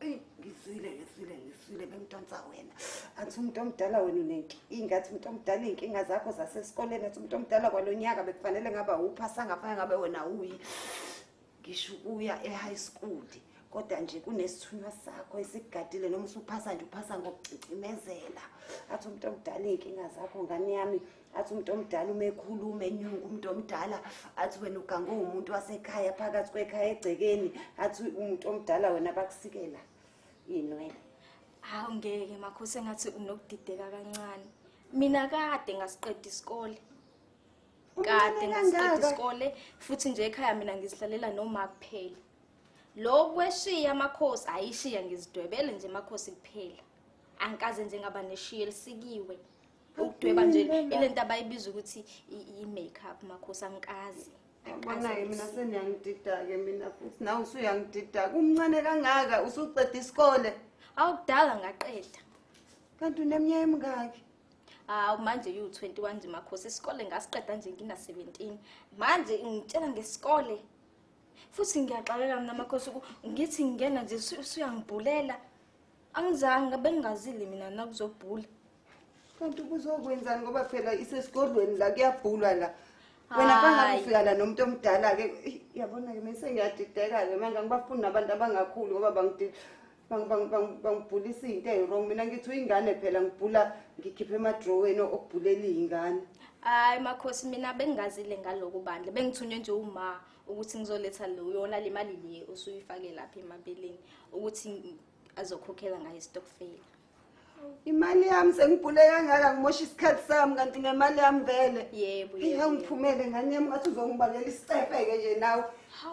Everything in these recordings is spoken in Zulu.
eyi ngisile ngisile ngisile bemdonsa wena athi umuntu omdala wena unenkinga athi umuntu omdala iy'nkinga zakho zasesikoleni athi umuntu omdala kwalo nyaka bekufanele ngaba wupha sangafanele ngabe wena wuyi ngisho ukuya e-high school kodwa nje kunesithunywa sakho esigadile noma usuphasa nje uphasa ngokucicimezela athi umuntu omdala iy'nkinga zakho ngane yami athi umuntu omdala uma ekhuluma enyunga umuntu omdala athi wena ugange uwumuntu wasekhaya phakathi kwekhaya egcekeni athi umuntu omdala wena bakusikela inwele hawu ngeke makhosi engathi unokudideka kancane mina kade ngasiqeda isikole kade ngasiqeda isikole futhi nje ekhaya mina ngizihlalela noma kuphela lokhu kweshiya amakhosi ayishiya ngizidwebele nje amakhosi kuphela angikaze nje ngaba neshiya elisikiwe ukudweba nje ile nto abayibiza ukuthi i-make up makhosi angikazi Bonaye mina seniyangidida-ke mina futhi nawe usuyangidida kumncane kangaka usuqeda isikole awu kudala ngaqeda kanti uneminyaka emingaki hawu manje yiwu-twenty-one nje makhosi isikole ngasiqeda nje ngina-seventeen manje ngitshela ngesikole futhi ngiyaxakeka mina makhosi ngithi ngingena nje usuyangibhulela angizange bengingazile mina nakuzobhula Kanti kuzokwenzani ngoba phela isesigodlweni la kuyabhulwa la. Wena Hayi. bangakufika la nomuntu omdala ke yabona ke mase ngiyadideka ke manje angibafuni nabantu abangakhulu ngoba bangidi bang- bang- bang- bangibhulisa into eyiwrong mina ngithi uyingane phela ngibhula ngikhiphe emadrowini okubhulela iyingane. Hayi makhosi mina bengingazile ngaloku bandla bengithunywe nje uma ukuthi ngizoletha lo yona le mali le usuyifake lapha emabeleni ukuthi ngi- azokhokhela ngayo istokfela. imali yami sengibhule kangaka ngimosha isikhathi sami kanti ngemali yami vele yebo yebo ngiphumele ngane yami ngathi uzongibangela isicefe-ke nje nawe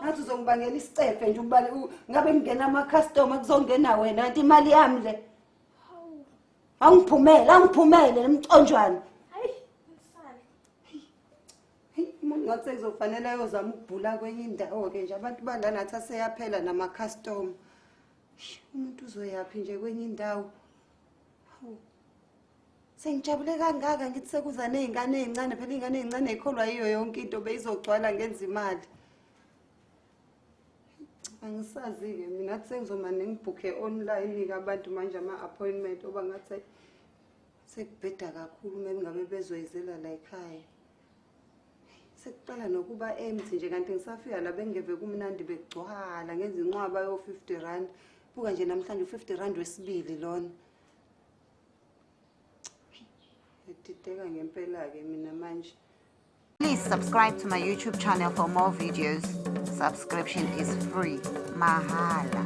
ngathi uzongibangela isicefe nje ubale u- ngabe kungena ama-customer kuzongena wena kanti imali yami le awungiphumele awungiphumele nemconjwana hayi msana Heyi, umuntu ngathi sekuzofanele ayozama ukubhula kwenye indawo-ke nje abantu balanathi aseyaphela nama-customer umuntu uzoyaphi nje kwenye indawo hawu sengijabule kangaka ngithi sekuza ney'ngane ey'ncane phela iy'ngane ey'ncane yikholwa yiyo yonke into beyizogcwala ngenza imali angisazi-ke mina kuthi sengizoma nengibhukhe online-ke abantu manje ama-appointment oba ngathi sekubheda kakhulu uma ngabe bezoyizela la ekhaya sekuqala nokuba empty nje kanti ngisafika la bengeve kumnandi begcwala ngenza inqwaba yo-50 rand buka nje namhlanje u-50 rand wesibili lona ngidideka ngempela-ke mina manje Please subscribe to my YouTube channel for more videos. Subscription is free. Mahala.